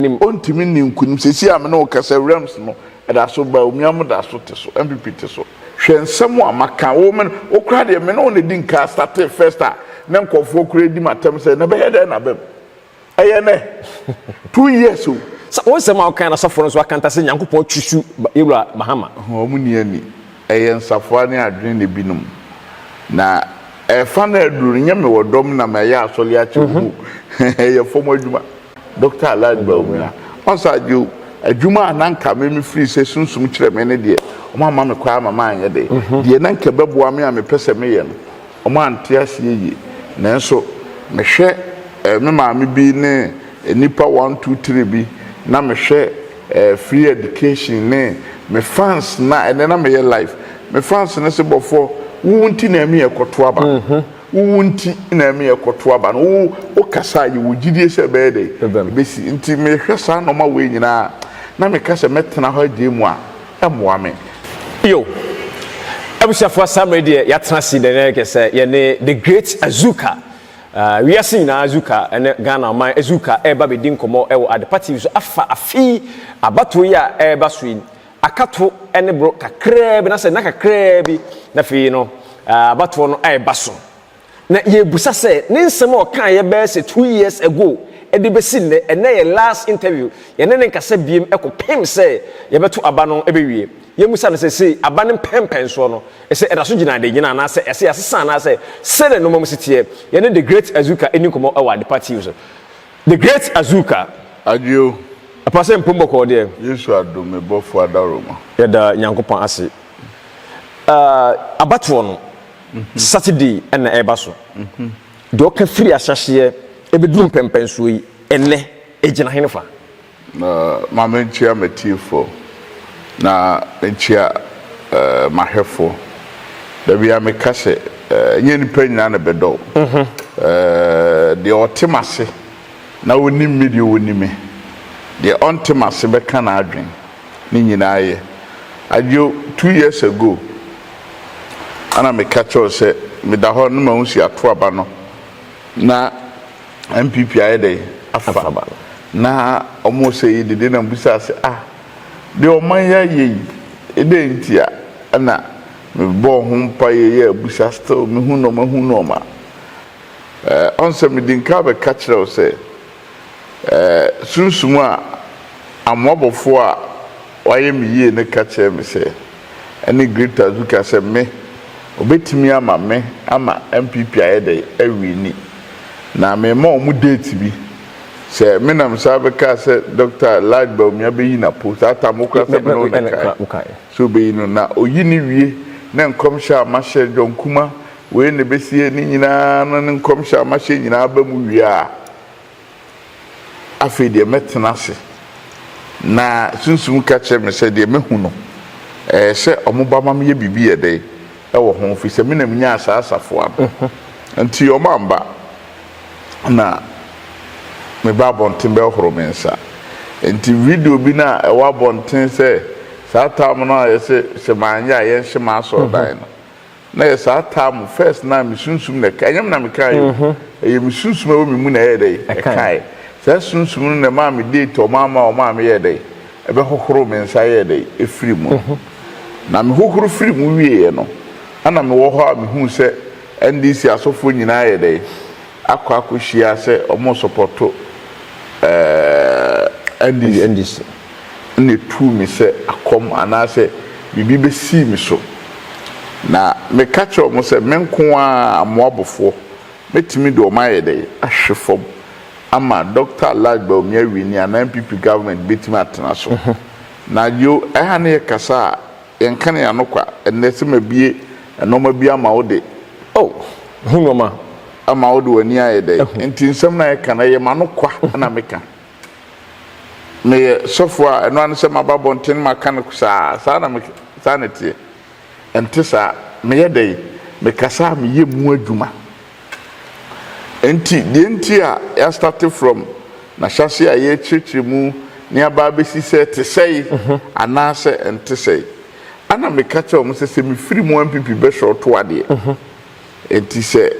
anim. Ɔntumi nni nkunim. Seesei a me ne wo kasa yi, Rams no da so ba, Omia mo da so te so, NPP te so. Hwɛ nsɛm a maka. Wo me, wo koraa deɛ, me ne wo na ɛdi nka a startee first a na nkurɔfoɔ koraa redi me atɛm sɛ, na ɛbɛyɛ dɛn na abam? Ɛyɛ nnɛ, two years o. Sɛ wo nsɛm a wo kae no asɔfoɔ no nso akanta sɛ Nyankopɔn atusu Yɛwura Mahama. Wɔn nni ani. Ɛyɛ nsafoa ne adwene na ɛbinom. Na. Ɛfa no aduru no nyɛ me wɔ dɔm na ma ɛyɛ asɔle akyɛ wo mu ɛyɛ fɔm adwuma Doctor Alad Bawumia ɔnsa agye o adwuma a na nka me me firi sɛ sunsum kyerɛ me ne deɛ ɔmo amma me kwan ama manyɛ de deɛ na nka ɛbɛboa me a me pɛ sɛ me yɛ no ɔmo ante aseɛ yie nanso me hwɛ me maame bi ne nnipa one two three bi na me hwɛ Eh free education ne me fans na ɛnɛ na meyɛ live me fans no se bɔfoɔ wo wo nti na ɛmi ɛkɔto aba no wo wo nti na ɛmi ɛkɔto aba no wo wo kasa a yɛwɔ gyidie sɛ ɛbɛyɛ dɛ ɛbɛsi nti me hwɛ saa nɔma wei nyinaa a na me ka sɛ mɛtena hɔ agye mu a ɛmmoa me. Yo. Abusuafoɔ saa mmerɛ deɛ yɛatena ase dɛnɛɛkɛ sɛ yɛne the great Azuka Wiase nyinaa Zuka ne Ghana ɔman Zuka reba abedi nkɔmmɔ wɔ Adepa TV so afa afe yi abatoɔ yi a ɛreba so yi akato ne boro kakraa bi anasɛ nna kakraa bi na afei no abatoɔ no reba so na yɛrebisa sɛ ne nsɛm a ɔkaeɛ bɛyɛ sɛ two years ago de bɛsi nnɛ ɛnnɛ yɛ last interview yɛne ne nkasa biem kɔpem sɛ yɛbɛto aba no bɛwie Yɛmmisa no sɛ, se aba no mpɛnpɛnsoɔ no, se ɛda so gyina ade nyina anaasɛ ɛse yɛasesa anaasɛ se ne nnoɔma mu se teɛ. Yɛne The Great Azuka nni nkɔmmɔ wɔ Adepa TV so. The Great Azuka. Adwo o. Apa sɛ mpom bɔkɔɔ deɛ. Yesu adom me bɔfoɔ adaworoma. Yɛda Nyankopɔn ase. Ahh abatoɔ no Saturday na ɛreba so. Deɛ ɔka firi ahyɛhyeɛ ɛbɛduru mpɛnpɛnsoɔ yi, ɛnnɛ ɛgyina henefa? Na ma menkyea m'atiefoɔ, na menkyea m'ahwɛfoɔ. Da biara meka sɛ, ɛnyɛ nnipa nyinaa na ɛbɛdɔ wo. Deɛ ɔte m'ase na ɔnim me deɛ, ɔni me. Deɛ ɔnte m'ase bɛka n'adwene, ne nyinaa yɛ. Adjo, two years ago na meka kyerɛ wo sɛ meda hɔ na m'ahusiatoaba no na. NPP ayɛ dɛn afa na ɔmo sɛ yi dede na mibisaa sɛ ah deɛ ɔman yi ayɛ yi edɛn nti a ɛna mebɔɔ ho mpaeɛ yɛɛ abusa still mehu nnoɔma hu nnoɔma eh ɔn sɛ mede nka abɛka kyerɛ wo sɛ eh sunsum a amoabɔfoɔ a wayɛ me yie no ka kyerɛɛ me sɛ. ɛne Greta Zuka sɛ me ɔbɛtumi ama me ama NPP ayɛ dɛn awini na mema wɔn date bi sɛ me na me saa bɛkaa sɛ Dɔkta Lad Bawumia bɛyi na po saa tam wo kora sɛ me ne wo na ɛkae sɛ ɔbɛyi no na ɔyi no wie na nkɔmhyɛ a mahyɛ John Kuma wei na ɛbɛsie ne nyinaa no ne nkɔmhyɛ a mahyɛ nyinaa ba mu wie a Afei deɛ mɛtena ase, na Sunsum ka kyerɛɛ me sɛ, deɛ mahu no, ɛyɛ sɛ wɔba ma meyɛ biribi yɛ dɛ wɔ ho, ɛfiri sɛ me na menyaa saa asafoa no. Enti wɔamma, na meba abɔnten bɛhohoro me nsa. Enti video bi no a ɛwɔ abɔnten sɛ saa tam no a wɔyɛ sɛ sɛ manyɛ a yɛnhye m'asɔrdan no, Na yɛ saa taa mo first na me sunsum na ɛka ɛnyɛ me na me kae o ɛyɛ me sunsum ɛwɔ me mu na ɛyɛ dɛn ɛkae saa sunsum no na ɛmaa me date a ɔmaa ma ɔmaa me yɛɛ dɛn ɛbɛ hohoro me nsa yɛɛ dɛn ɛfiri mu no na me hohoro firi mu wieɛ no ɛna me wɔ hɔ a me huu sɛ NDC asɔfoɔ nyinaa ayɛ dɛn akɔ akɔ hyia sɛ ɔmo sɔpɔto ɛɛɛ NDC. na etuu me sɛ akɔm anaasɛ biribi besii me so. Na meka kyerɛɛ wɔn sɛ, Me nko ara, Moabfoɔ, mɛtumi de wɔn ayɛ dɛn? Ahwe fam ama Dɔkta Alaj Bawumia Wini anaa NPP government bɛtumi atena so? Na Joe, ɛha no yɛkasa a, yɛnka no yɛn ano kwa. Ɛnnɛ, sɛ mabue nnoɔma bi ama wo de, oh! Ho nnoɔma. Ama wo de w'ani ayɛ dɛn? Enti nsɛm no a yɛka no, ɛyɛ m'ano kwa na meka. Meyɛ sɔfo a ɛno ara ne sɛ maba abɔnten maka no saa, saa na me, saa na ɛteɛ. Ɛnte saa. Meyɛ dɛn? Mekasa a meyɛ mu adwuma. Enti, deɛ nti a yɛastate from n'ahyɛaseɛ a yɛrekyerɛkyerɛ mu na aba abɛsi sɛ ɛte sɛe anaasɛ ɛnte sɛe. Ɛna meka kyerɛ wɔn sɛ, sɛ mefiri mu a, NPP bɛshɔɔto adeɛ. Enti sɛ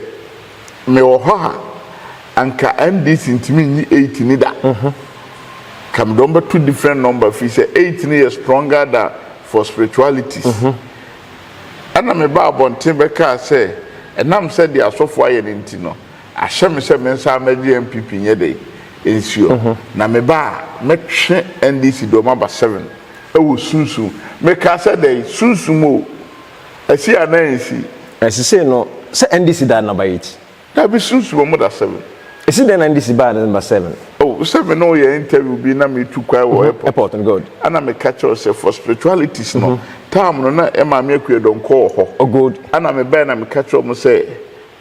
me wɔ hɔ a anka NDC ntumi nyi eight ni da. Ka me de wɔn bɛto different number firi sɛ eight no yɛ stronger than for spiritualities. Ɛna me baa abɔnten bɛkaa sɛ ɛnam sɛ deɛ asɔfo ayɛ no nti no ahyɛ me sɛ me nsa mɛgye NPP nyɛ dɛn nsuo. Na me ba a mɛtwe NDC de wɔn aba seven ɛwɔ sunsum. Me kaa sɛ dɛn? Sunsum o. Asi anaa ansi? Ɛsi sei no sɛ NDC da number eight. Dabi sunsu ɔmo da seven. Esi dɛn na NDC baa number seven? Oh sɛ me ne wo yɛ interview bi na me tu kwan wɔ airport Airport no good. ɛna me ka kyerɛ wo sɛ for spiritualities no time no na Maame Akua Donkor wɔ hɔ. Oh good. Ɛna me baɛ na me ka kyerɛ ɔmo sɛ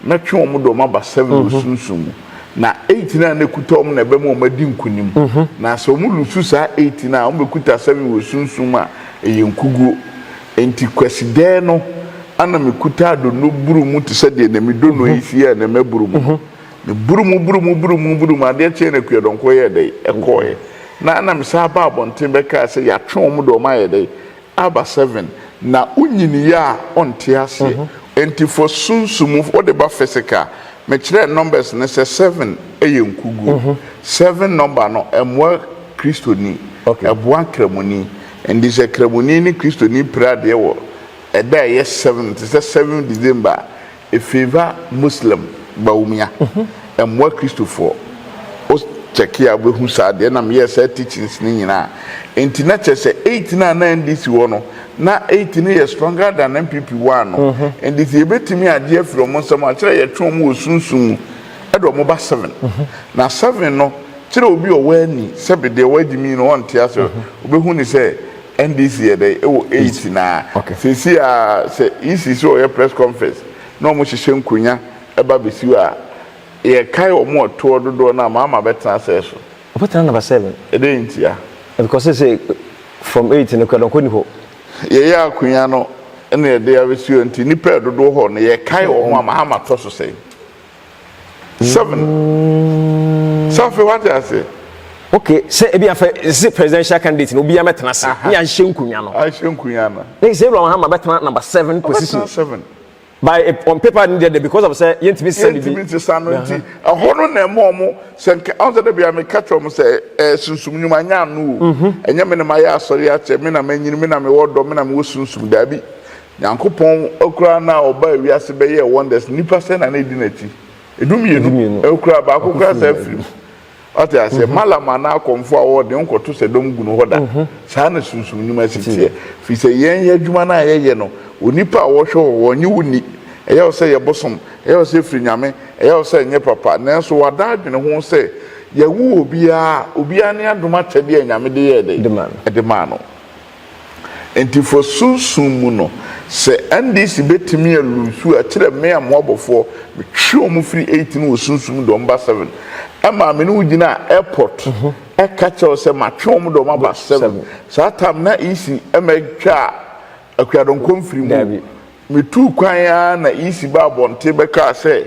Mɛtwe wɔn de wɔn aba seven wɔ sunsum mu, na eight no a na ekuta wɔn na ɛbɛma wɔn adi nkunim. Na sɛ wɔn lusu saa eight no a, wɔn bɛkuta seven wɔ sunsum mu a ɛyɛ nkuguo. Enti Kwasidaɛ no na mekutaa donno buru mu te sɛ deɛ na me donno yi si a na maburu mu no. Na buru mu buru mu buru mu buru mu, adeɛ kyeeɛ no Akuadɔnkɔ yɛɛ dɛn? Ɛkɔeɛ. Na na mesan aba abɔnten bɛkaa sɛ yɛatwe wɔn de wɔn ayɛ dɛn? Aba seven na wonyiniiɛ a ɔnte aseɛ nti for sunsum wode ba physical me kyerɛɛ numbers no sɛ seven yɛ nkuguo seven number no ɛmmoa kristoni ɛboa nkramoni nti sɛ kramoni ne kristoni pira adeɛ wɔ ɛda a ɛyɛ seven te sɛ seven December a E favor Muslim Bawumia ɛmmoa Kristofoɔ Wo check a wobɛhu saa deɛ na meyɛɛ saa teachings no nyinaa Enti na kyerɛ sɛ eight no a na NDC wɔ no na eight no yɛ stronger than NPP one no Enti sɛ yɛbɛtumi agye afiri wɔn nsam a kyerɛ yɛtwe wɔn wɔ sunsum mu de wɔn ba seven Na seven no kyerɛ obi a ɔwɔ ani sɛbe deɛ wagye me yi no ɔnte aseɛ Wobɛhu no sɛ NDC yɛ dɛn ɛwɔ eight naa sɛsi a sɛ EC sɛ ɔyɛ press conference na ɔmo hyehyɛ nkonya ɛba bɛsi hɔ a yɛ kae ɔmo ɛtoɔ dodoɔ no a Mahama bɛtena asɛɛ so? Ɔbɛtena number seven. Ɛdɛn ntia? Because sɛsei from eight no kura dɔnkɔ ni hɔ. Yɛyɛ akonya no na yɛde abɛsi hɔ nti nipa ɛdodoɔ hɔ no yɛ kae ɔmo a Mahama tɔ so sɛn? seven sɛ afei wate ase. ok sɛ ebi afɛ sɛ presidential candidate na obiara bɛtena ase ne ahyɛ nkonnwa no ahyɛ nkonnwa no na sɛ ewura mahama bɛtena number seven position seven by eh, on paper ne deɛ because of sɛ yɛntumi nsesa bibi yɛntumi nsesa no nti ɛhɔ no na ɛma ɔmo sɛ nka ɔn sɛ dɛbi ame kakyɛ ɔmo sɛ ɛɛ sunsum nyuma nya ano o mhm. ɛnyɛ me na ma yɛ asɔre akyɛ me na ma nyini me na me wɔ dɔ me na me wɔ sunsum daabi Nyankopɔn koraa no a ɔbaa wiase bɛyɛɛ wonders no nnipa sɛn na na ɛdi n'akyi? Ɛdu mmienu koraa baako koraa saa afiri mu. Wate aseɛ? Malam anaa akɔmfoɔ a wɔwɔ den nkɔto sɛ dɔm gu no hɔ da. Saa na sunsum nnwuma si teɛ. Firi sɛ yɛn yɛ adwuma no a yɛyɛ no onipa a wɔhwɛ hɔ hɔ ɔnye wo nni. Ɛyɛ wo sɛ yɛ bosom, ɛyɛ wo sɛ ɛfiri Nyame, ɛyɛ wo sɛ ɛnyɛ papa. Nanso wada adwene ho sɛ yɛwo obiara a obiara ne adom akyɛdeɛ a Nyame de yɛɛ dɛn? De maa no. Enti fa sunsum mu no, sɛ NDC bɛtumi a loose a, kyerɛ me a moabɔfoɔ, metwe wɔn firi eight no wɔ sunsum mu de wɔn ba seven. Ɛmaa me ne wo gyinaa airport ɛka kyerɛ wo sɛ matwe wɔn de wɔn aba seven. Saa time no na EC mmɛtwaa Akuadonko mfiri mu o. Metuu kwan ara na EC baa abɔnten bɛkaa sɛ,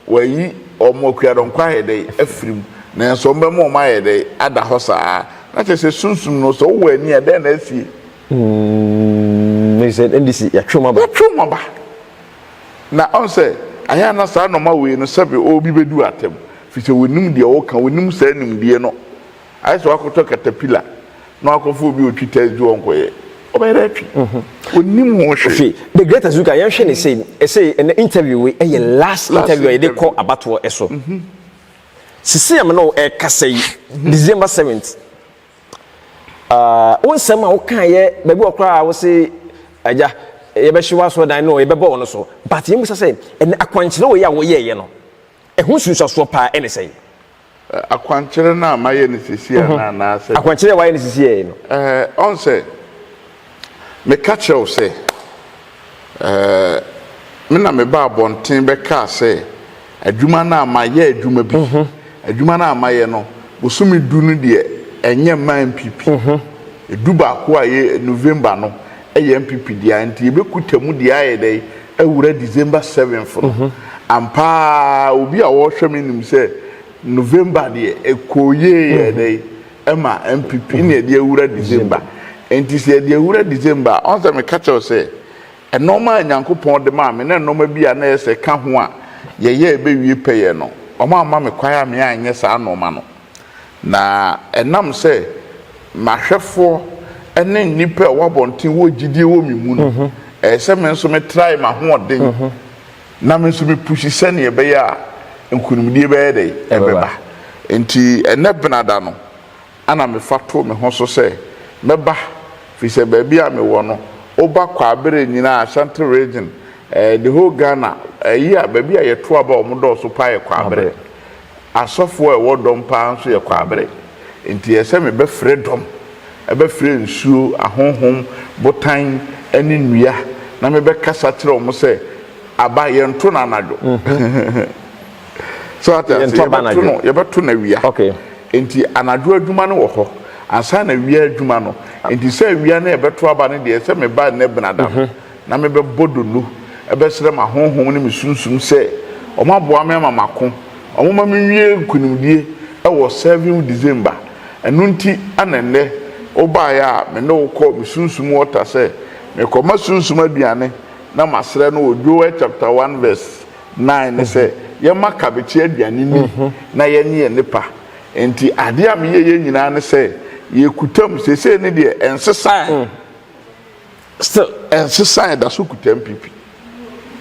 Wɔayi wɔn akuadɔm kɔ ayɛ dɛn? Afirim. Nanso wɔbɛma wɔn ayɛ dɛn? Ada hɔ saa ara. Na kyerɛ sɛ sunsum no, sɛ wowɔ ani a, dɛn na asie? Mm, Mrs. NDC, yɛatwe wɔn aba. Yɛatwe wɔn aba. Na ɔn sɛ, ayɛ a na saa nɔma wei no, sɛbe obi bɛdu atɛm, firi sɛ wɔnim deɛ wɔka, wɔnim saa nimdeɛ no. Ayɛ sɛ wakɔtɔ katapila na wakɔfa obi a ɔtwi tiles de ɔnkɔyɛ. Ɔbɛyɛ dɛ atwi. Ɔnnim ho hwee. Afei, The Great Azuka, yɛnhwɛ no sei. Ɛsei, ɛnnɛ interview wei ɛyɛ last interview a yɛde kɔ abatoɔ so. Sesei a me ne wo ɛrekasa yi, December seventh, ah, wo nsɛm a wokaeɛ baabi wɔ hɔ koraa a wose, Agya, yɛbɛhye w'asɔredan no o, yɛbɛbɔ wo no so. But yɛmmisa sɛ, ɛnnɛ akwankyerɛ wei a woyɛeɛ no, ɛho nsunsuasoɔ paa ɛne sɛn? Akwankyerɛ no a mayɛ no sesei anaa anaasɛ. Akwankyerɛ a wayɛ no sesei no. Ɛɛ, ɔn sɛ meka kyerɛ wo sɛ, ɛɛ, me na mebaa abɔnten bɛkaa sɛ adwuma no a mayɛ adwuma bi, adwuma no a mayɛ no bosome du no deɛ ɛnyɛ mmaa mpp, du baako a ɛyɛ November no, Ɛyɛ NPP dea nti yɛbɛkuta mu deɛ ayɛ dɛ awura December seventh no. Ampa ara obi a ɔrehwɛ me nim sɛ November deɛ ɛkɔɔ yie yɛɛ dɛ ɛma NPP ɛna yɛde awura December. Nti sɛ yɛde awura December a, ɔn sɛ meka kyerɛ wo sɛ nnoɔma a Nyankopɔn de maa me na nnoɔma bi a na ɛyɛ sɛ ɛka ho a yɛyɛ ɛbɛwie pɛyɛ no, wɔamma me kwan a me anyɛ saa nnoɔma no. Na ɛnam sɛ m'ahwɛfoɔ ne nnipa a ɛwɔ abɔnten wɔ gyidie wɔ me mu no, ɛyɛ sɛ me nso me trae m'ahoɔden na me nso me pushi sɛdeɛ ɛbɛyɛ a nkunimdie bɛyɛ dɛn? Ɛbɛba. Nti ɛnnɛ Benada no na me fa too me ho so sɛ mɛba firi sɛ baabi a me wɔ no wo ba kɔ a berɛ nyinaa Ashanti region, the whole Ghana, ayi a baabi a yɛto aba a wɔdɔɔso paa yɛ kɔ a berɛ. Asɔfoɔ a ɛwɔ dɔm paa nso yɛ kwaabere, enti ɛyɛ sɛ mebɛfrɛ dɔm, ɛbɛfrɛ nsuo, ahonhom, botan ne nnua, na mebɛkasa akyerɛ wɔn sɛ, Aba, yɛnto no anadwo. So ate aseɛ? Yɛbɛto no, yɛbɛto no awia. Enti anadwo adwuma no wɔ hɔ, ansa na awia adwuma no. Enti sɛ awia na yɛbɛto aba no deɛ, ɛsɛ meba nnɛ Benada no. Na mebɛbɔ donno bɛsrɛ m'ahonhom ne me sunsum sɛ wɔaboa me ama mako, wɔma menwie nkonimdie wɔ Servium December. Ɛno nti na nnɛ wobaeɛ a me ne wo kɔɔ me sunsum wɔta sɛ merekɔma sunsum aduane na masrɛ no wɔ Joel chapter one verse nine no sɛ yɛmma kabekye aduane nni na yɛnye yɛn nnepa. Enti adeɛ a meyɛeɛ nyinaa ne sɛ yɛkutam, seesei ne deɛ ɛnsesaeɛ. Still, ɛnsesaa yɛda so kuta MPP.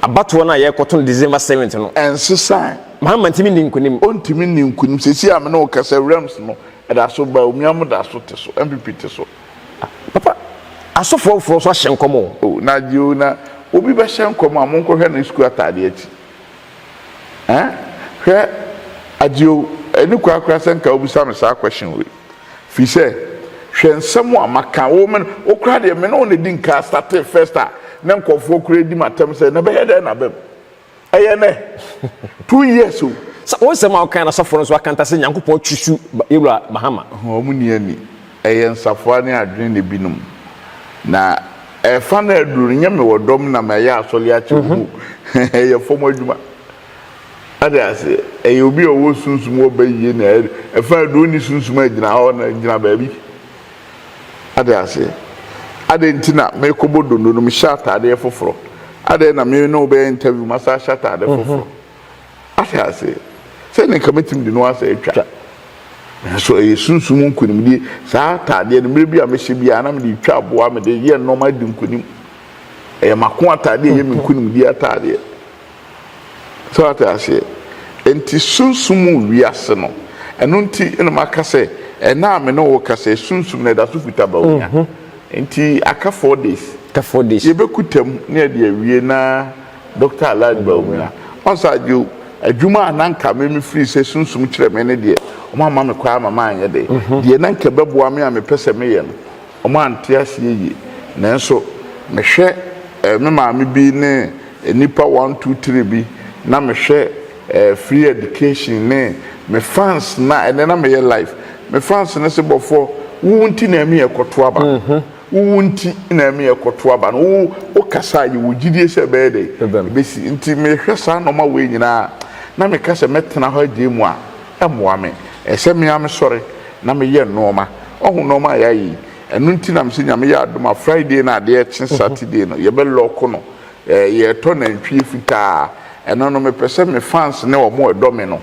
Abatoɔ no a yɛrekɔto no December seventh no. Ɛnsesaa. Mahama ntumi nni nkunim. Ɔntumi nni nkunim. Seesei a me ne wo kasa yi, Rems no, ɛda so ba. Omiamo da so te so. MPP te so. Papa, asɔfoɔ afoforɔ nso ahyɛ nkɔm o. Oh, na agye o, na obi bɛhyɛ nkɔm a, monkɔhwɛ ne sukuu ataadeɛ akyi. Ɛɛ, hwɛ, agye o, ɛni kwa koraa sɛ nka wobisa me saa question wei. Firi sɛ, hwɛ nsɛm a maka wo, me, wo koraa deɛ, me ne wo na ɛdi nka startee first a, na nkurɔfoɔ koraa di me atɛm sɛ, na ɛbɛyɛ dɛn na aba mu? Ɛyɛ nnɛ, two years o. Sa, wo nsɛm a wokae no asɔfoɔ no nso aka nta sɛ Nyankopɔn twi su ba, Yɛwura Mahama. Ho, wɔn nni ani. Ɛyɛ nsafoa ne adwene na ebinom. Na ɛfa no aduru no, nyɛ me wɔ dɔm na mayɛ asɔre akyɛ wo mu. Ɛyɛ fam adwuma. Ate aseɛ? Ɛyɛ obi a ɔwɔ sunsum wɔ ba yie na ɛfa deɛ ɔnni sunsum a ɛgyina hɔ na ɛgyina baabi. Ate aseɛ? Adɛn nti na mekɔbɔ dondo no mehyɛ ataadeɛ foforɔ? Adɛn na me ne wo bɛyɛ interview masa ahyɛ ataade foforɔ? Ate aseɛ? Sɛ ne nka mɛtumi de no asa atwa. Nanso ɛyɛ sunsum nkonimdie. Saa ataadeɛ no mmerɛ bi a mɛhyɛ biara na mede twa aboa, mede yɛ nnoɔma di nkonim. Ɛyɛ m'ako ataadeɛ, ɛyɛ me nkonimdie ataadeɛ. So wate aseɛ? Enti sunsum mu wiase no, ɛno nti na maka sɛ, ɛnnɛ a me ne wo rekasa yi, sunsum no ɛda so kuta Baonya. Enti aka four days. Aka four days. Yɛbɛkuta mu na yɛde awie na Doctor Allied Baumia. Ɔn sɛ agye o, adwuma a na anka me me firi sɛ sunsum kyerɛ me no deɛ, wɔn amma me kwan ama manyɛ dɛ. Deɛ na anka ɛbɛboa me a mepɛ sɛ meyɛ no, wɔn ante aseɛ yie. Nanso mehwɛ me maame bi ne. Nnipa one two three bi na me hwɛ ɛɛ free education ne me fans na ɛnɛ na me yɛ live me fans no se bɔfoɔ wo wo nti na ɛmi ɛkɔto aba no wo wo nti na ɛmi ɛkɔto aba no wo wo kasa a yɛ wɔ gyidie sɛ ɛbɛyɛ dɛ ɛbɛsi nti me hwɛ saa nnoɔma wei nyinaa na me ka sɛ mɛ tena hɔ agye mu a ɛmmoa me ɛsɛ me ara me sɔre na me yɛ nnoɔma wahu nnoɔma a yɛ ayɛ yi ɛno nti na me se nyame yɛ adom a Friday no adeɛ kye Saturday no yɛ bɛ lock no. Yɛtɔ nantwie fitaa a ɛno no mepɛ sɛ me fans ne wɔn a ɛdɔ me no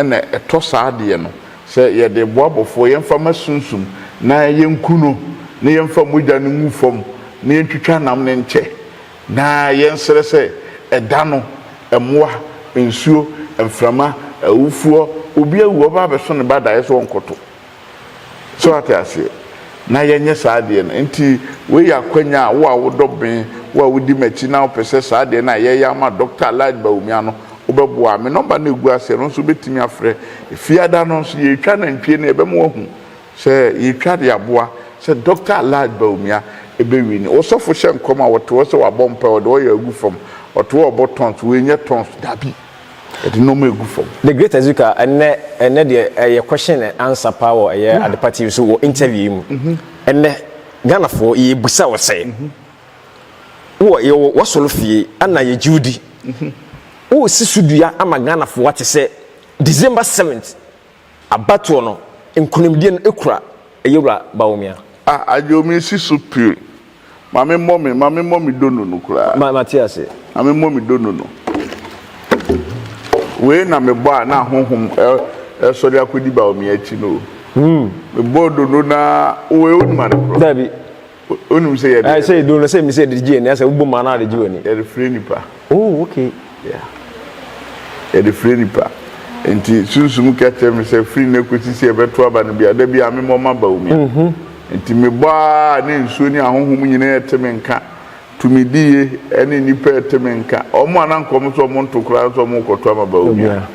na ɛtɔ saa deɛ no sɛ yɛde boa bɔfoɔ yɛmfa mma sunsum na yɛnku no na yɛmfa mogya no ngu fam na yɛntwitwa nam no nkyɛ na yɛnsrɛ sɛ ɛda no mmoa, nsuo, mframa, awufoɔ, obi awu ɔba abɛso ne ba daeɛ so ɔnkɔto. So ate aseɛ? Na yɛnyɛ saa adeɛ no. Enti wei yɛ akwanya a wo a wodɔ me, wo a wodi m'akyi na wopɛ sɛ saa adeɛ no a yɛyɛ ama Dɔkta Allied Bawumia no, wobɛboa a, me nɔmba no a ɛgu aseɛ no nso wobɛtumi afrɛ. Fiada no nso, yɛretwa nantwie no, yɛbɛma woahu sɛ yɛretwa de aboa sɛ Dɔkta Allied Bawumia bɛwini. Wo sɔfo hyɛ nkɔm a, ɔte hɔ sɛ wabɔ mpaeɛ, ɔde oil agu fam, ɔte hɔ rebɔ tongues. Wei nyɛ tongues. Dabi. Yɛde nnoɔma regu fam. The Great Azuka, ɛnnɛ, ɛnnɛ deɛ ɛyɛ question and answer paa wɔ ɛyɛ Adepa TV so wɔ interview yi mu. Ɛnnɛ, Ghanafoɔ, yɛrebisa wo sɛ, wowɔ, yɛwɔ w'asɔre fie ɛna yɛgye wo di, woresi so dua ama Ghanafoɔ ate sɛ December 7th, Abatoɔ no nkunimdie no ekura Yewura Bawumia. Ah Adjo me si so pir. Ma me mmɔ me ma me mmɔ me donu no koraa. Ma ma te ase. Ma me mmɔ me donu no. Wei na me bɔ a na ahonhom resɔre akɔdi Bawumia akyi no o. Me bɔɔ donu no ara wei wonim ade korɔ. Dabi. Onim sɛ yɛde. Ɛɛ sɛ edu no sɛ mi sɛ yɛde gye ani asɛ wobɔ mu anaa de gye w'ani. Yɛde firi nipa. Oh okay. Yeah. Yɛde firi nipa. Nti sunsum ka kyerɛ mi sɛ firi nnɛ kosi sɛ yɛbɛto aba no bia da bia memmɔ m'aba wɔ mu. Nti mebɔ aa ne nsuo ne ahonhom nyinaa te me nka. Tumidi ye ɛne nnipa ɛte me nka. Wɔn a na anka wɔn nso wɔn nto koraa nso wɔn rekɔto ama Bawumia.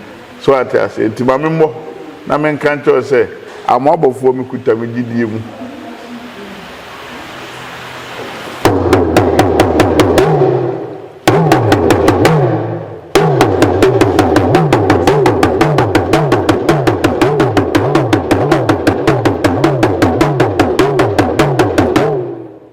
So wate aseɛ? Nti ma me mmɔ na me nka nkyerɛ wo sɛ Amoabɔfoɔ me kuta me gyidie mu.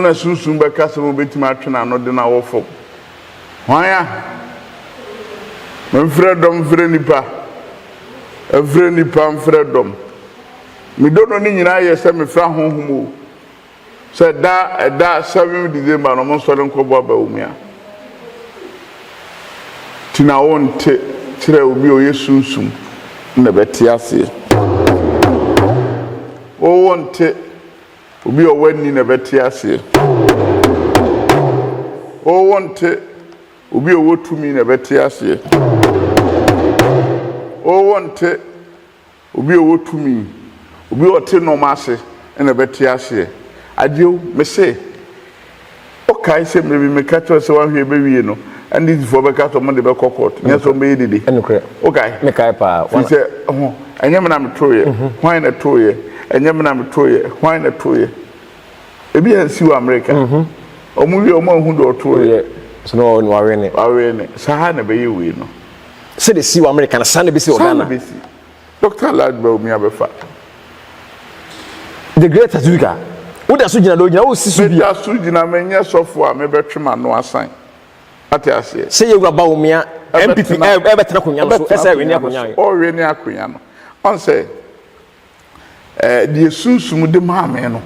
na sunsum bɛka sɛ wobetumi atwe n'ano de no awɔ fam. Hwan a? Memfrɛ dɔm mfrɛ nnipa, ɛmfrɛ nnipa mfrɛ dɔm. Me dɔ no ne nyinaa yɛ sɛ mefrɛ ahonhom o, sɛ ɛda ɛda seven December no wɔnsɔre nkɔbɔ aba wɔ mu a. Ti na wonte kyerɛ obi a ɔyɛ sunsum na ɛbɛte aseɛ. Wowonte Obi a ɔwɔ ani na ɛbɛte aseɛ. O wonte, obi a ɔwɔ tumi na ɛbɛte aseɛ. O wonte, obi a ɔwɔ tumi, obi a ɔte nnoɔma ase na ɛbɛte aseɛ. Agyeo, mese. Wokae sɛ mmere bi meka kyerɛɛ wo sɛ woanhwɛ ebewie no, NDCfoɔ bɛka sɛ wɔde bɛkɔ court, nyɛ sɛ wɔbɛyɛ dede. Nokorɛ. Wokae? Mekae paa. Firi sɛ, ho, ɛnyɛ me na metooeɛ, hwan na ɛtooeɛ? Ɛnyɛ me na metooeɛ, hwan na ɛtooeɛ? Ebi ansi wɔ Amerika. Wɔn wie a, wɔn anhu deɛ ɔtooeɛ. Woyɛ, so na wɔn wawene. Wawene. Saa ara na ɛbɛyɛ wei no. Sɛdeɛ ɛsi wɔ Amerika no, saa na ɛbɛsi wɔ Ghana. Saa na ɛbɛsi. Doctor Ladbell mi abɛfa. The great Azuika. Woda so gyina dɛ ogyina wo si so bi. Meda so gyina menyɛ sɔfo a mebɛtwe m'ano asan. Ate aseɛ. Sɛ yɛwura Bawumia MPP ɛbɛtena akonnwa no so ɛsɛ ɛwene akonnwa no. Ɔwene akonnwa no. Ɔn sɛ Eh, deɛ Sunsum de maa me no,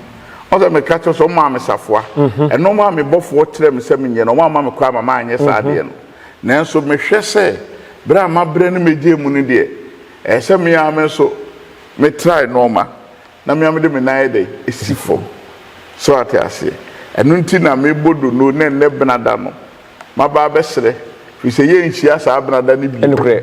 ɔsɛ meka kyerɛ sɛ ɔmaa me safoa. Mhm. Ɛno maa me bɔfoɔ kyerɛ me sɛ menyɛ no, ɔma ama me kɔ ama maanyɛ saa mhm. adeɛ no. Nanso mehwɛ sɛ berɛ a mabrɛ ne megyee mu no deɛ, ɛyɛ sɛ me ara me nso metrae nɔɔma na me ara mede me nan yɛ dɛ ɛsi fam. So ate aseɛ? Ɛno nti na mebɔ dono ne nnɛ benada no, maba abɛsrɛ, firi sɛ yɛnhyia saa benada no bio.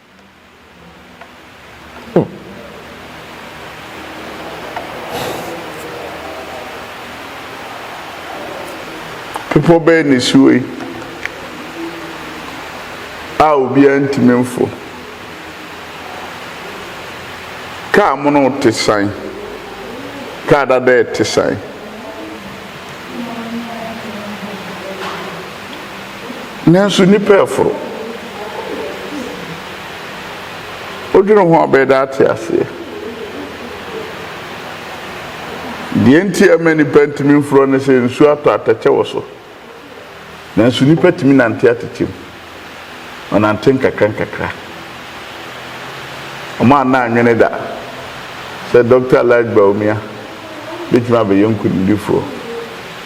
Bepɔ bɛn na esi hɔ yi a obiara ntumi mforo? Kaa mono te san, kaa dada te san. Nanso nnipa reforo. Wodwene ho a wobɛyɛ dɛ ate aseɛ. Deɛ nti a ɛma nnipa ntumi mforɔ ne sɛ nsuo atɔ atɛkyɛ wɔ so. Nanso nnipa tumi nante atɛkyɛ mu. Wɔnante nkakra nkakra. Wɔn a na anwene da sɛ Dɔkta Elijah Bawumia bɛtumi abɛyɛ nkonimdifoɔ.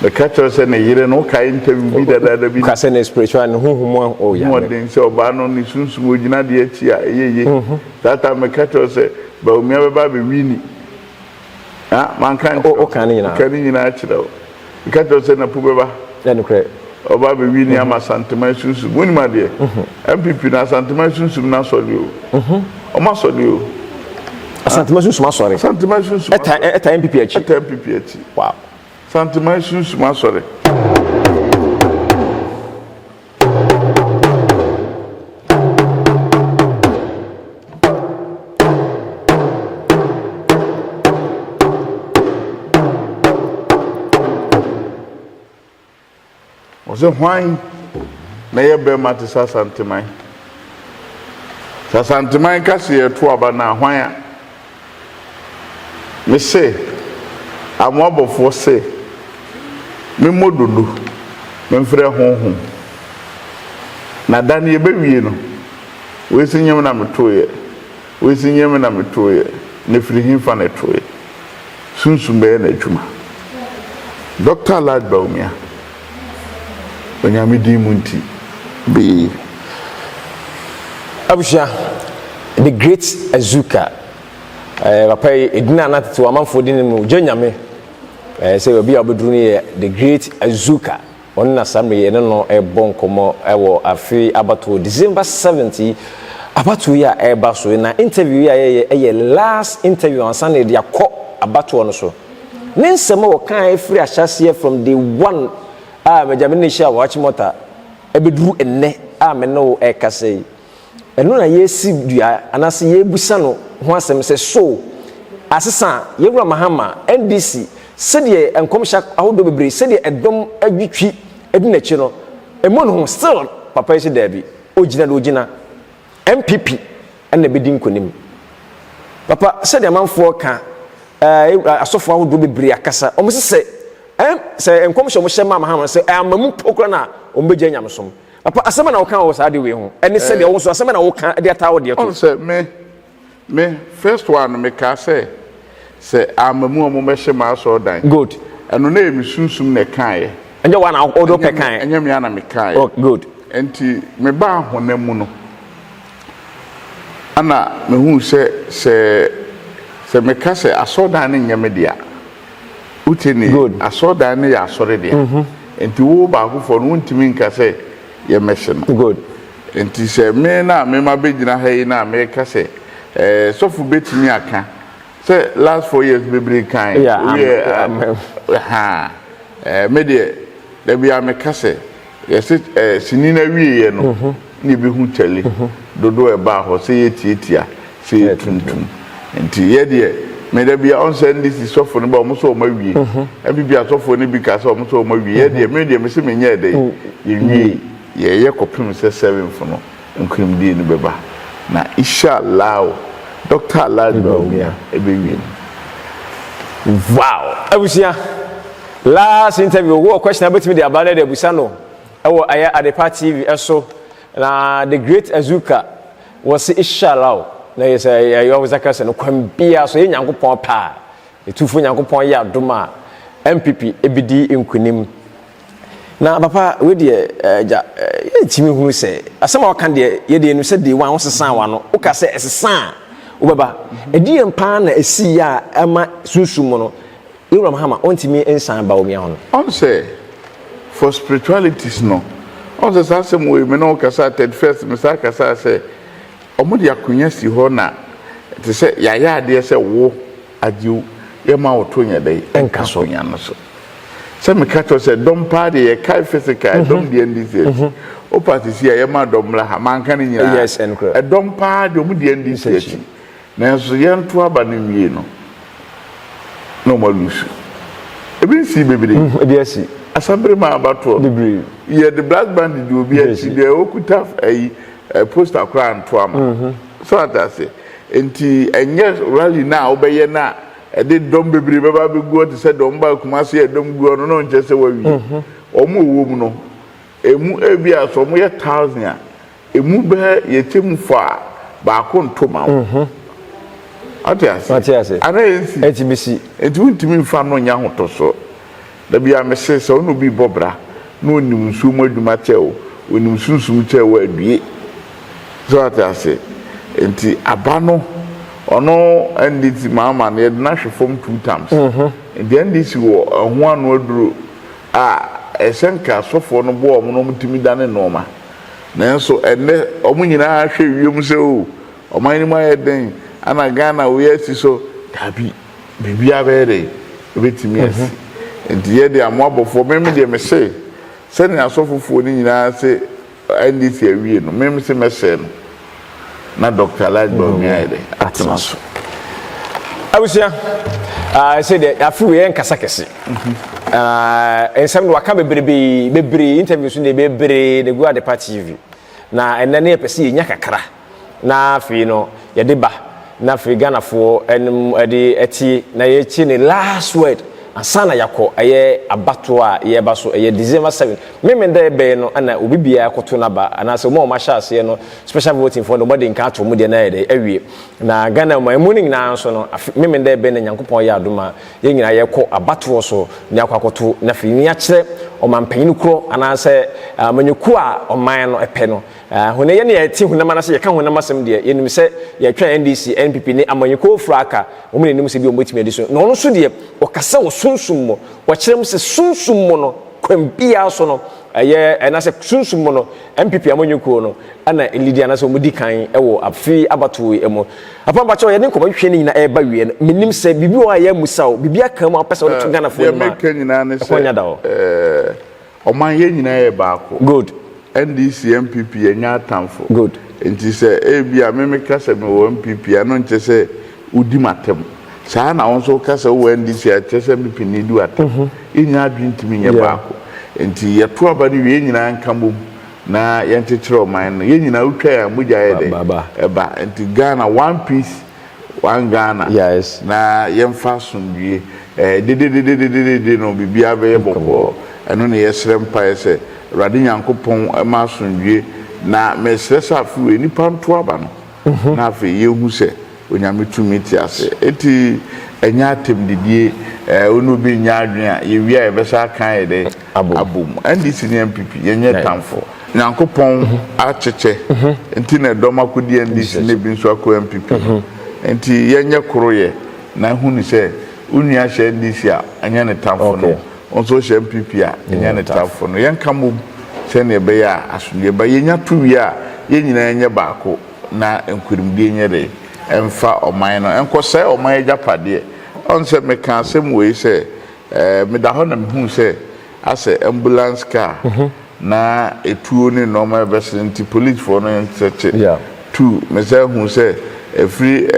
Meka kyerɛ wo sɛ ne yere no, wokae interview bi dadaada bi. Ka sɛ ne spiritual, ne honhom mu oh yeah. Hu ɔden sɛ ɔbaa no ne sunsum ogyina deɛ akyi a ɛyɛ ye. That time meka kyerɛ wo sɛ Bawumia bɛba abɛ winni. Ha, manka nkyerɛ wo? Woka ne nyinaa. Meka ne nyinaa kyerɛ wo. Meka kyerɛ wo sɛ Napu bɛba. Ɛyɛ nokorɛ. Ɔba abɛ winni ama Asanteman sunsum. Wonim adeɛ? NPP no, Asanteman sunsum no asɔre o. Wɔn asɔre o. Asanteman sunsum asɔre? Asanteman sunsum asɔre. Ɛtaa NPP akyi? Ɛtaa NPP akyi. Wow. Santeman Sunsum Asɔre. Ɔse hwan na ɛyɛ bɛɛma te sɛ Asanteman? Sɛ Asanteman ka se yɛreto aba no a, hwan a? Me se Amoabɔfoɔ se me mmɔ dodo, me mfrɛ honhom. Na da no yɛbɛwie no, wei se nyem na metoeɛ. Wei se nyɛ me na metooeɛ, na firi hefa na ɛtooeɛ? Sunsum bɛyɛ n'adwuma. Doctor Alhaj Bawumia, Onyame din mu nti, bee. Abusua, The great Azuka, ɛɛ papa yi edin a na tete wɔn amanfoɔ di ne mu, gye Nyame, ɛɛ sɛ obi a ɔbɛduru no yɛ The great Azuka. Ɔno na saa mmerɛ yi yɛne no rebɔ nkɔmmɔ wɔ afe abatoɔ December seventh yi abatoɔ yi a ɛreba so yi na interview yi a yɛyɛ ɛyɛ last interview ansa na yɛde akɔ abatoɔ no so. Ne nsɛm a ɔkaa ɛfiri ahyɛaseɛ from day one a magya me ne hyia Ɔhakyim Ɔta ɛbɛduru ɛnnɛ a me ne wo ɛrekasa yi Ɛno na yɛresi dua anaasɛ yɛrebisa no ho asɛm sɛ so asesa a, Yawura Mahama, NDC, sɛdeɛ nkɔmhyɛ ahodoɔ bebree, sɛdeɛ ɛdɔm adwitwi adi n'akyi no, ɛmmu ne ho, still papa yi se daabi, ɔgyina deɛ ɔgyina, NPP na ɛbɛdi nkonim. Papa, sɛdeɛ amanfoɔ ka, ɛɛ asɔfoɔ ahodoɔ bebree akasa, wɔn se sɛ, ɛɛ sɛ nkɔmhyɛ wɔn hyɛ maa Mahama no sɛ ɛamma mu mpo koraa na wɔbɛgyae nyamesom. Papa, asɛm bɛn na woka wɔ saa ade wei ho? Ɛne sɛdeɛ wo nso, asɛm bɛn na woka de ataa wo deɛ to? Ɔn sɛ me, me first one no mekaa sɛ, sɛ amma mu a wɔmmɛhyɛ m'asɔrdan. Good. Ɛno na ɛyɛ me sunsum na ɛkaeɛ. Ɛnyɛ wo a na wode wopɛ kaeɛ. Ɛnyɛ me a na mekaeɛ. Oh, good. Enti mebaa honam mu no, ɛna mehuu sɛ, sɛ, sɛ meka sɛ asɔrdan no nyɛ me dea. Wote nne yi? Asɔredan no yɛ asɔre dea. Enti wo baako foɔ no, wontumi nka sɛ yɛmmɛhye no. Enti sɛ me na me mma bɛgyina ha yi na meka sɛ, eh, sɔfo bɛtumi aka sɛ last four years bebree kan woyɛ a, ahaa, eh, me deɛ, da biara meka sɛ, Yɛse ɛɛ sini no awieɛ no na yɛbɛhu kyɛle dodoɔ a ɛbaa hɔ sɛ yɛtiatia sɛ yɛtuntum nti yɛ deɛ me dabia ɔn sɛ NDC sɔfo no ba ɔmo sɛ ɔmo awie NPP asɔfoɔ no bi kaa sɛ ɔmo sɛ ɔmo awie yɛ deɛ me deɛ mese menyɛɛ dɛn yɛnwie yɛyɛ kɔpem sɛ seventh no Nkonimdie no bɛba na isha Allah o Doctor Alhaji Bawumia ɛbɛwie no wow. Abusua last interview wowɔ question a wobɛtumi de aba na yɛde abusa no wɔ ɛyɛ Adepa TV so na the great Azuka wɔse isha Allah o na yɛ sɛ ɛyɛ ɔwɔ sɛ kɛsɛ no kwan biara so yɛ Nyankopɔn paa ɛtufoɔ Nyankopɔn yɛ adom a MPP ɛbɛdi nkonim. Na papa wei deɛ agya yɛntumi hunu sɛ asɛm a ɔka deɛ yɛdeɛ nu sɛ day one wosesaa w'ano woka sɛ ɛsesa a wobɛba ɛdeɛn paa na ɛsii yɛ a ɛma sunsum mu no yɛwura mahama ɔntumi nsan ba onua hɔ no ɔn sɛ for spiritualities no ɔn sɛ saa asɛm wei me ne wo kasaa third first me saa kasaa sɛ ɔmo de akonya si hɔ na te sɛ yɛayɛ adeɛ sɛ wo Agyeo, yɛ ma wo to nyɛ dɛn nka ahonya no so. Sɛ meka kyerɛ wo sɛ dɔm paa deɛ yɛkae physical, mhm. dɔm deɛ ndi theatre. Mhm. Wopa sisi a yɛma dɔm mmra ha, manka no nyinaa. Ɛdɔm paa deɛ ɔmo deɛ ndi theatre. Nanso yɛnto aba no nwie no, na ɔmo alusu. Ebi nsi bebree. Mhm, ebi asi. Asabere ma abatoɔ. Bebree. Yɛde black band di obi akyi deɛ okuta ayi. Eh poster koraa ntoa ma. So ate ase? Nti ɛnyɛ rally no a wobɛyɛ no a ɛde dɔm bebree bɛba abɛgu hɔ te sɛ deɛ wɔbaa Kumasi a dɔm gu hɔ no na ɔnkyerɛ sɛ wawie. Wɔn a wɔwɔ mu no, ɛmu ebia sɛ wɔyɛ thousand a, ɛmu bɛyɛ yɛkyɛ mu fɔ a, baako nto ma wo. Ate ase? Anaa ɛnsi? Nti wontumi mfa no nyɛ ahotɔsoɔ. Da biara mese sɛ wo ne obi rebɔ bra na ɔnim nsuo mu adwuma kyɛ wo, ɔnim sunsum kyɛ wo a, due. So woate ase? Nti aba no, ɔno NDC maa ɔma no, yɛde no ahwe fam two terms. Nti NDC wɔ ɛho ano aduro a ɛsɛ nka asɔfoɔ no boa wɔn na wɔtumi dane nnoɔma. Nanso ɛnnɛ wɔn nyinaa hwɛ wiem sɛ oh, ɔman no mu ayɛ den, ana Ghana wei asi so? Daabi. Biribiara bɛyɛ dɛ, ɛbɛtumi asi. Nti yɛ deɛ mo abɔfoɔ, me me deɛ mese, sɛdeɛ asɔfofoɔ no nyinaa se NDC awie no, me mese mɛsɛe no na Doctor Elijah Bawumia ayɛ dɛ, atena so. Abusua, ah, ɛsɛ deɛ, afi wei ɛnkasa kɛse. Ah, nsɛm no waka bebrebee, bebree, interviews no deɛ bebree na gu Adepa TV. Na ɛnɛ no yɛpɛ sɛ yɛnya kakra. Na afei no yɛde ba na afei Ghanafoɔ nom de ɛte na yɛkye ne last word ansa na yɛakɔ ɛyɛ abatoɔ a yɛreba so ɛyɛ December seven meme dɛ bɛyɛ no ɛna obi biara akɔto n'aba anaasɛ wɔn a wɔahyɛ aseɛ no special voting foɔ no wɔde nka ato wɔn deɛ na ayɛ dɛ awie na Ghana mu ɛmu no nyinaa nso no afe meme dɛ bɛyɛ na Nyankopɔn yɛ adom a yɛn nyinaa yɛkɔ abatoɔ so ne akɔ akɔto na afei ni akyerɛ ɔmampanyini korɔ anaasɛ amanyɔkuo a ɔman no ɛpɛ no Ah, hone yɛ ne yɛ te honam anase yɛ ka honam asem deɛ, yɛ nim sɛ yɛ twɛn NDC, NPP ne amanyikoo fro aka wɔn na nim sɛ ebia wɔn bɛtumi adi so. Na ɔno nso deɛ, ɔka sɛ wɔ sunsum mo, wɔkyerɛ mu sɛ sunsum mo no, kwan biara so no, ɛyɛ, anasɛ sunsum mo no, NPP amanyikoo no ɛna elidi anasɛ wɔn di kan wɔ afiri abatoɔ yi mu. Papa mpakyɛw, yɛ ne nkɔmɔ hwehwɛ ne nyina ɛɛba awieɛ no, me nim sɛ biribi wɔ hɔ a yɛ ammusa wo, biribi aka mu a wopɛ sɛ wode to Ghanafoɔ anim a, ɛkwan nya da hɔ. Ɔman yɛn nyinaa yɛ baako. Good. NDC NPP yɛnyɛ atamfo. Good. Nti sɛ ebia me meka sɛ me wɔ NPP a ɛno nkyɛ sɛ wodi m'atam. Saa ara na wo nso woka sɛ wowɔ NDC a ɛkyɛ sɛ NPP na edi w'atam. Yɛnnya adwene ntumi nyɛ baako. Nti yɛto aba no wie yɛn nyinaa nka bom na yɛnkyekyere ɔman no. Yɛn nyinaa wotwa yɛn a mogya yɛ dɛn? Ɛba. Nti Ghana one peace One Ghana Yes. na yɛmfa asomdwie eh, dedededededede no biribiara bɛyɛ bɔkɔɔ. Ɛno na yɛsrɛ mpaeɛ sɛ Awurade Nyankopɔn mma asomdwie na mesrɛ sɛ afe wei nnipa nto aba no na afei yɛhu sɛ Onyame tumi te ase. Enti ɛnyɛ atɛmdidie eh, wo ne obi nnya adwene a, yɛwie a yɛbɛsan aka ayɛ dɛn? abom. NDC ne NPP yɛnyɛ tamfo. Nyankopɔn akyekyɛ nti na ɛdɔm akodi NDC na ebi nso akɔ NPP no. Nti yɛnyɛ koro yɛ na hu no sɛ wo nua hyɛ NDC a ɛnyɛ ne tamfo no wo nso hyɛ NPP a ɛnyɛ ne tamfo no. Yɛnka mmom sɛnea ɛbɛyɛ a asomdwoeɛ ba. Yɛnya to wie a yɛn nyinaa nyɛ baako na nkurimdie nyɛ dɛn? Ɛmfa ɔman no ɛnkɔsɛe ɔman agyapadeɛ. Ɔn sɛ mekaa asɛm wei sɛ Meda hɔ na mehuu sɛ asɛ ambulance car na etuo ne nnoɔma a ɛbɛsene nti polisfoɔ no nkyɛkyɛ tu. Mesan huu sɛ ɛfiri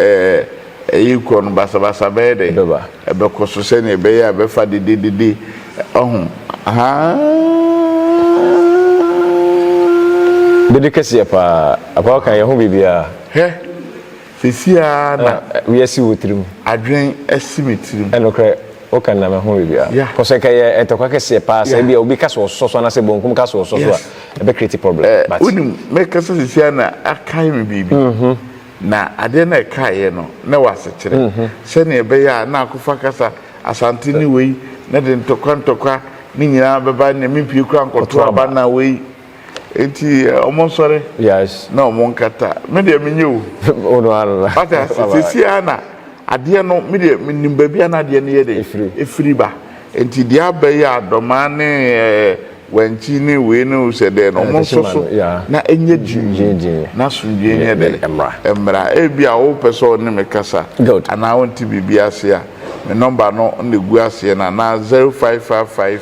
ɛyi rekɔ no basabasa bɛyɛ dɛ ɛbɛkɔ so sɛdeɛ ɛbɛyɛ a ɛbɛfa dededede ɔho haa. Dede kɛseɛ paa. Apa woka yɛho biribiara. Hɛ! Seesei ara na. Na wei asi wo tirim. Adwene asi me tirim. Nokorɛ, woka no na mahu biribiara. Yeah. Kɔ so, ɛka yɛ ntɔkwa kɛseɛ paa sɛ Yeah. ebia obi ka sɛ ɔsosɔ so anaasɛ bonkum ka sɛ ɔsosɔ so a, Yes. ɛbɛ create problem. Eh, But wonim, mɛkasa seesei ara na akae me biribi. Na adeɛ no a ɛkaeɛ no, na ɛwɔ asekyerɛ. Sɛnea ɛbɛyɛ a na akɔfa kasa Asante ne wei, na ɛde ntɔkwa ntɔkwa ne nyinaa bɛba, na mempue koraa nkɔto Kɔto aba. aba na wei. Eti ɔmo nsɔre. Yes. Na ɔmo nkata. Me deɛ me nye o. Wo no ara na. Wate ase sisi ara na adeɛ no me deɛ me nim baabi a na adeɛ no yɛ dɛ. Efiri. Efiri ba. Nti deɛ aba yi a dɔmaa ne ɛɛ wankyi ne wei ne o sɛ dɛ no ɔmo nso so na enye gyingyingyin na asomdwie nyɛ dɛ ɛmmra. Ebi a wo pɛ sɛ ɔne me kasa anaa wonte biribi ase a me nɔmba no na egu aseɛ no anaa zero five five five.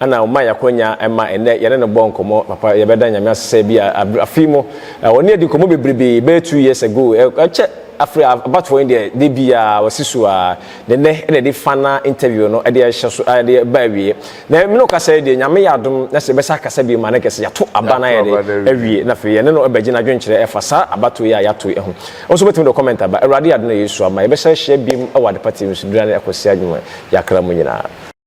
Ana ɔma yɛ akwanya ma ɛnnɛ yɛne no bɔ nkɔmmɔ. Papa yɛbɛda Nyame ase sɛ bi a abre afe yi mu ɔne yɛadi nkɔmmɔ bebrebee bɛyɛ two years ago ɛkyɛ afre abatoɔ yi deɛ da biaa ɔsi so aa na ɛnnɛ na yɛde final interview no ɛde ɛhyɛ so ɛde ɛba awieɛ na me ne wo kasa yi deɛ Nyame yɛ adom na sɛ yɛbɛsa akasa bio mu a na nka sɛ yɛato aba no ayɛ dɛ awie na afei yɛne no ɛbɛgye n'adwenkyerɛ ɛfa saa abatoɔ yi a yɛato yi ho. Wo nso wobɛtumi de wo comment aba. Awurade yɛ adom na Yesu ama yɛbɛsa ahyia biom wɔ adepa TV so berɛ a ne ɛkɔsɛ adwuma yɛ akra mu nyinaa.